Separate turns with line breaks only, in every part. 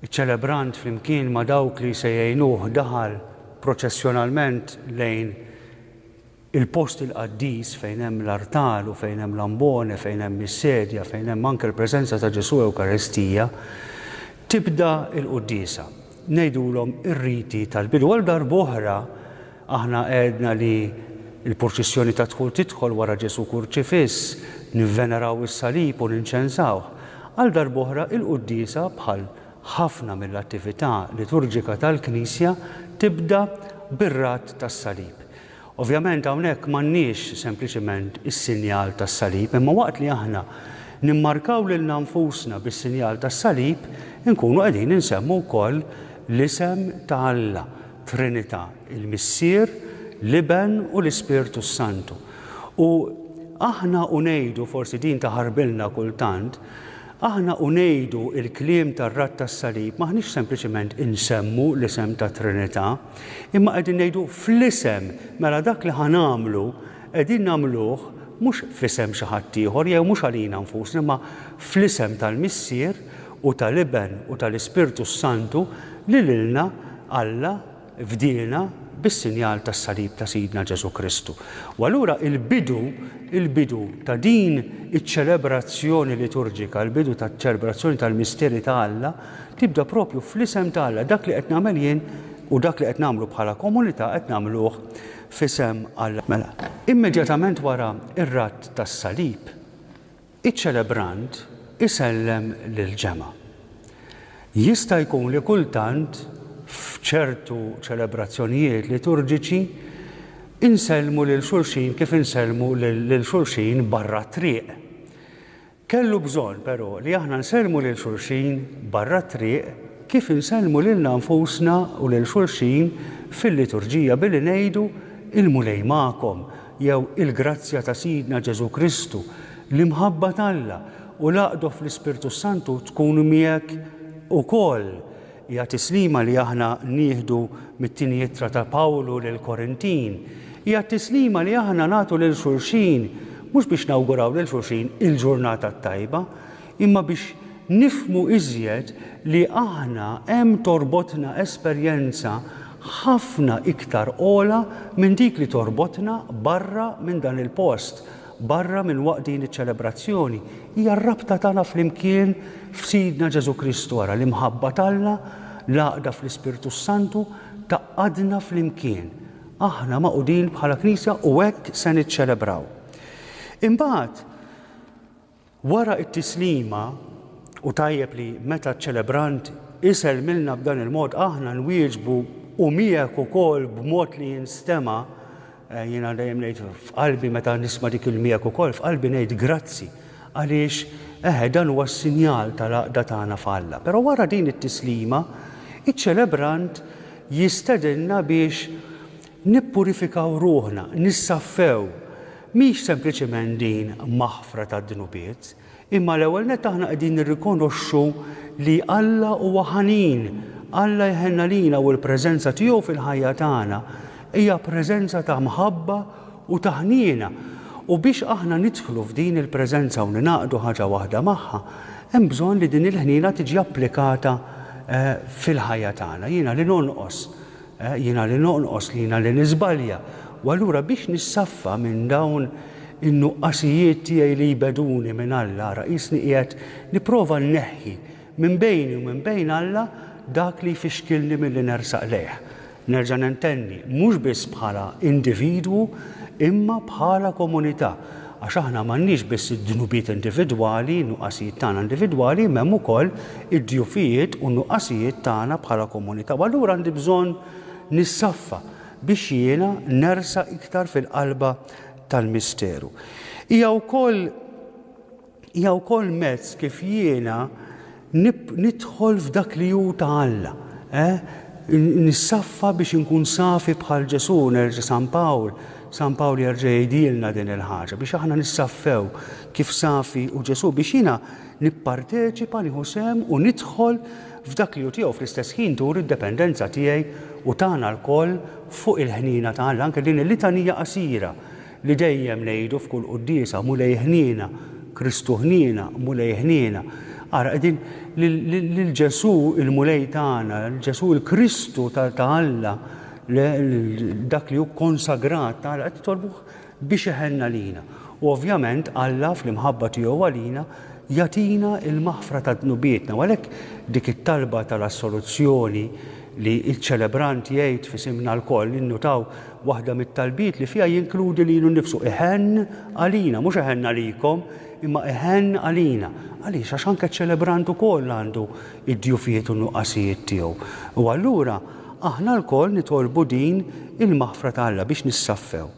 Iċ-ċelebrant flimkien ma' dawk li se jgħinuh daħal proċessjonalment lejn il-post il-qaddis fejn hemm l-artal u fejn hemm l-ambone, fejn hemm is-sedja, fejn hemm anke l-preżenza ta' Ġesù Ewkaristija. Tibda l-quddiesa. Ngħidulhom ir-riti tal-bidu. Għal darb'oħra Aħna għedna li l-purċissjoni tad-dħul tidħol wara Ġesù kurċifiss, nivveneraw is-salib u ninċensawh. Għal darb'oħra il-quddiesa, bħal ħafna mill-attività liturġika tal-Knisja, tibda bir-radd tas-salib. Ovvjament hawnhekk m'għandniex sempliċement is-sinjal tas-salib, imma waqt li aħna nimmarkaw lilna nfusna bis-sinjal tas-salib, inkunu qegħdin insemmu wkoll l-isem ta' Alla. Trinità, il-Missier, l-Iben u l-Ispirtu s-Santu. U aħna u ngħidu, forsi din taħarbilna kultant, aħna u ngħidu l-kliem tar-radd tas-salib m'aħniex sempliċement insemmu l-isem tat-Trinità, imma qegħdin ngħidu fl-isem, mela dak li ħa nagħmlu qegħdin nagħmluh mhux f'isem xi ħaddieħor jew mhux għalina nfusna imma fl-isem tal-Missier u tal-Iben u tal-Ispirtu s-Santu li lilna Alla fdiena bis-sinjal tas-salib ta' Sidna Ġesù Kristu. U allura il-bidu, il-bidu ta' din iċ-ċelebrazzjoni liturġika, il-bidu taċ-ċelebrazzjoni tal-misteri ta' Alla, tibda proprju fl-isem ta' Alla, dak li qed nagħmel jien u dak li qed nagħmlu bħala komunità qed nagħmluh f'isem Alla. Mela, immedjatament wara r-radd tas-salib, Iċ-ċelebrant isellem lill-ġemgħa. Jista' jkun li kultant f'ċertu ċelebrazzjonijiet liturġiċi nsellmu lil xulxin kif insellmu lil xulxin barra t-triq. Kellu bżonn, però, li aħna nsellmu lil xulxin barra t-triq kif insellmu lilna nfusna u lil xulxin fil-liturġija billi ngħidu, Il-Mulej magħkom. jew il-grazzja ta' Sidna Ġesù Kristu, l-imħabba t'Alla u l-għaqdu fl-Ispirtu s-Santu tkun miegħek ukoll, hija t-tislima li aħna nieħdu mit-Tieni Ittra ta' Pawlu lill-Korintin. Hija t-tislima li aħna nagħtu lil xulxin, mhux biex nawguraw lil xulxin il-ġurnata t-tajba, imma biex nifhmu iżjed li aħna hemm torbotna esperjenza ħafna iktar ogħla minn dik li torbotna barra minn dan il-post, barra minn waqt din iċ-ċelebrazzjoni. Hija r-rabta tagħna flimkien f'Sidna Ġesù Kristu. Ara, l-imħabba t'Alla, l-għaqda fl-Ispirtu s-Santu, tgħaqqadna flimkien. Aħna magħqudin bħala Knisja u hekk se niċċelebraw. Imbagħad, Wara t-tislima, hu tajjeb li meta ċ-ċelebrant isellmilna b'dan il-mod aħna nwieġbu u miegħek ukoll b'mod li jinstema', jiena dejjem ngħid f'qalbi meta nisma' dik il-miegħek ukoll f'qalbi ngħid grazzi għaliex eħe dan huwa s-sinjal tal-għaqda tagħna f'Alla. Però wara din it-tislima, iċ-ċelebrant jistedinna biex Nippurifikaw ruħna, nissaffew, mhix sempliċement din maħfra tad-dnubiet, imma l-ewwel nett aħna qegħdin nirrikonoxxu li Alla huwa ħanin, Alla jħenn għalina u l-preżenza tiegħu fil-ħajja tagħna hija preżenza ta' mħabba u ta' ħniena. U biex aħna nidħlu f'din il-preżenza u ningħaqdu ħaġa waħda magħha, hemm bżonn li din il-ħniena tiġi applikata fil-ħajja tagħna. Jiena li nonqos Jiena li nonqos, jiena li niżbalja, u allura biex nissaffa minn dawn in-nuqqasijiet tiegħi li jbegħduni minn Alla, ara qisni qiegħed nipprova nneħħi minn bejni u minn bejn Alla dak li jfixkilni milli nersaq lejh. Nerġa' nentenni, mhux biss bħala individwu imma bħala komunità. Għax aħna m'għandniex biss id-dnubiet individwali, in-nuqqasijiet tagħna individwali, imma hemm ukoll id-djufijiet u n-nuqqasijiet tagħna bħala komunità. U allura għandi bżonn nissaffa biex jiena nersaq iktar fil-qalba tal-misteru. Hija wkoll hija wkoll mezz kif jiena Nidħol f'dak li hu ta' Alla, eh? Nissaffa biex inkun safi bħal Ġesù, nerġa' San Pawl, San Pawl jerġa' jgħidilna din il-ħaġa, biex aħna nissaffew kif safi hu Ġesù, biex jiena nipparteċipa, nieħu sehem u nidħol f'dak li hu tiegħu, fl-istess ħin turi d-dependenza tiegħi u tagħna lkoll fuq il-ħniena ta' Alla, anke din il-litanija qasira Li dejjem ngħidu f'kull quddiesa, Mulej ħniena, Kristu ħniena, Mulej ħniena. Ara, qegħdin lil Ġesù il-Mulej tagħna, Ġesù il-Kristu ta' Alla, dak li hu kkonsagrat ta' Alla, qed nitolbuh biex iħenna lina. U ovvjament Alla fl-imħabba tiegħu għalina jagħtina l-maħfra ta' dnubietna. U għalhekk dik it-talba tal-assoluzzjoni li ċ-ċelebrant jgħid f'isimna lkoll, innutaw Waħda mit-talbiet li fiha jinkludi lilu nnifsu, Iħenn għalina, mhux iħenn għalikom, imma iħenn għalina. Għaliex? Għax anke ċ-ċelebrant ukoll għandu d-djufijiet u n-nuqqasijiet tiegħu. U allura aħna lkoll nitolbu din il-maħfra ta' Alla biex nissaffew.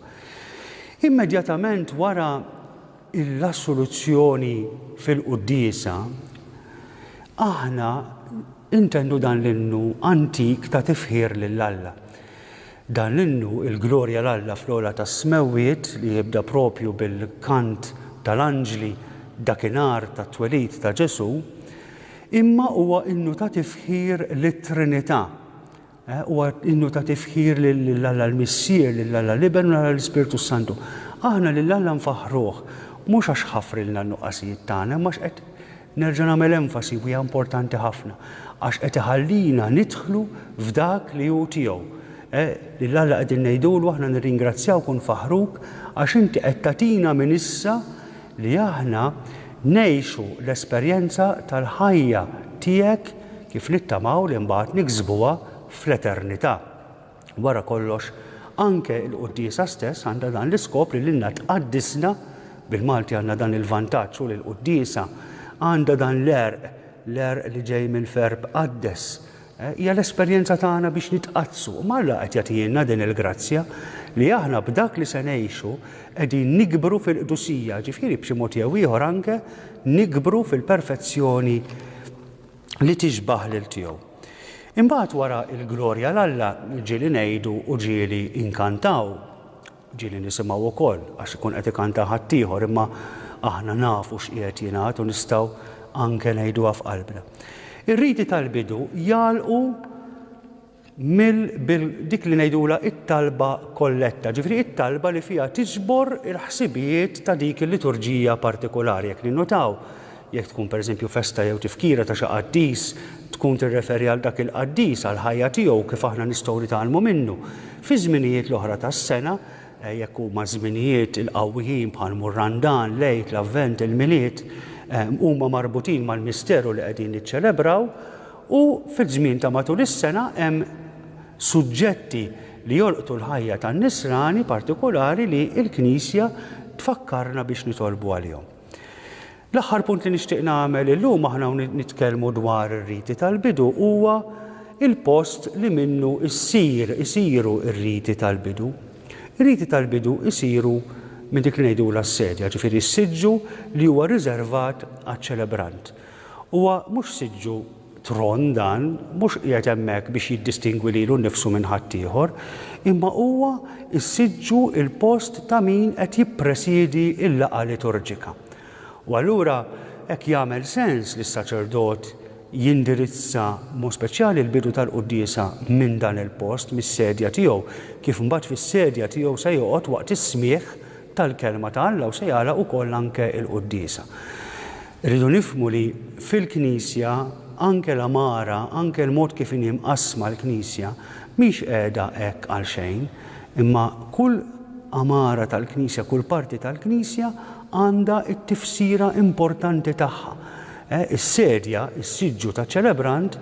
Immedjatament wara l-assoluzzjoni fil-quddiesa, aħna intendu dan l-innu antik ta' tifħir lil Alla. Dan l-innu, il-glorja 'l Alla fl-ogħla tas-smewwiet, li jibda proprju bil-kant tal-anġli dakinhar tat-twelid ta' Ġesù, imma huwa innu ta' tifħir lit-Trinità. Huwa innu ta' tifħir lil Alla l-Missier, lil Alla l-Iben u lil Alla l-Ispirtu s-Santu. Aħna lil Alla nfaħħruh, mhux għax ħafrilna n-nuqqasijiet tagħna, imma għax qed Nerġa' nagħmel enfasi, u hija importanti ħafna, għax qed iħallina nidħlu f'dak li hu tiegħu. Lil Alla qegħdin ngħidulu aħna nirringrazzjawk u nfaħħruk għax inti qed tagħtina minn issa li aħna ngħixu l-esperjenza tal-ħajja tiegħek kif nittamaw li mbagħad niksbuha fl-eternità. Wara kollox, anke l-quddiesa stess għandha dan l-iskop li lilna tqaddisna, bil-Malti għandna dan il-vantaġġ u l-quddiesa għandha dan l-għerq, l-għerq li ġej minn verb qaddes. Hija l-esperjenza tagħna biex nitqaddsu. Imma Alla qed jagħtihielna din il-grazzja li aħna b'dak li se ngħixu qegħdin nikbru fil-qdusija, ġifieri b'xi mod jew ieħor anke nikbru fil-perfezzjoni li tixbah lil tiegħu. Imbagħad wara l-glorja l-Alla ġieli ngħidu u ġieli nkantaw, ġieli nisimgħu wkoll għax ikun qed ikanta ħaddieħor imma aħna nafu x'qiegħed jingħad u nistgħu anke ngħiduha f'qalbna. Ir-riti tal-bidu jagħlqu mill bil dik li ngħidulha t-talba kolletta, ġifieri it-talba li fiha tiġbor il-ħsibijiet ta' dik il-liturġija partikulari. Jekk ninnutaw, jekk tkun pereżempju festa jew tifkira ta' xi qaddis, tkun tirreferi għal dak il-qaddis, għall-ħajja tiegħu u kif aħna nistgħu nitgħallmu minnu. Fiż-żminijiet l-oħra tas-sena, jekk huma żminijiet il-qawwijin bħal mhu r-Randan, l-Għid, l-Avvent, il-Milied, huma marbutin mal-misteru li qegħdin niċċelebraw, U fiż-żmien ta' matul is-sena hemm suġġetti li jolqtu l-ħajja tan-Nisrani partikulari li l-Knisja tfakkarna biex nitolbu għalihom. L-aħħar punt li nixtieq nagħmel illum aħna hawn nitkellmu dwar ir-riti tal-bidu huwa il-post li minnu issir isiru r-riti tal-bidu. Ir-riti tal-bidu isiru minn dik li ngħidulha s-sedja, ġifieri s-siġġu li huwa riservat għaċ-ċelebrant. Huwa mhux siġġu tron dan, mhux qiegħed hemmhekk biex jiddistingwi lilu nnifsu minn ħaddieħor, imma huwa s-siġġu, il-post ta' min qed jippresiedi l-laqgħa liturġika. U allura hekk jagħmel sens li s-saċerdot jindirizza b'mod speċjali l-bidu tal-quddiesa minn dan il-post, mis-sedja tiegħu, kif mbagħad fis-sedja tiegħu se joqgħod waqt is-smigħ tal-Kelma ta' Alla u se jagħlaq ukoll anke l-quddiesa. Irridu nifhmu li fil-Knisja, anke l-għamara, anke l-mod kif inhi mqassma l-Knisja, mhix qiegħda hekk għalxejn, imma kull għamara tal-Knisja, kull parti tal-Knisja għandha t-tifsira importanti tagħha. Is-sedja, is-siġġu taċ-ċelebrant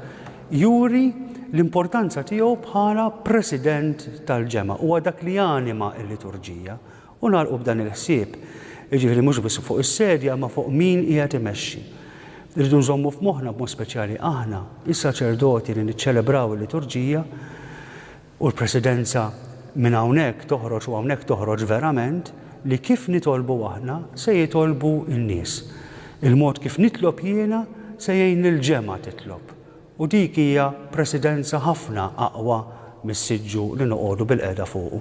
juri l-importanza tiegħu bħala President tal-Ġemgħa, huwa dak li janima l-liturġija, U nagħlqu b'dan il-ħsieb, jiġifieri mhux biss fuq is-sedja imma fuq min qiegħed imexxi. Irridu nżommu f'moħħna b'mod speċjali aħna, is-saċerdoti li niċċelebraw il-liturġija, u l-Presidenza minn hawnhekk toħroġ u hawnhekk toħroġ verament, li kif nitolbu aħna se jitolbu n-nies. Il-mod kif nitlob jiena se jgħin lill-ġemgħa titlob. U dik hija Presidenza ħafna aqwa mis-siġġu li noqogħdu bilqiegħda fuqu.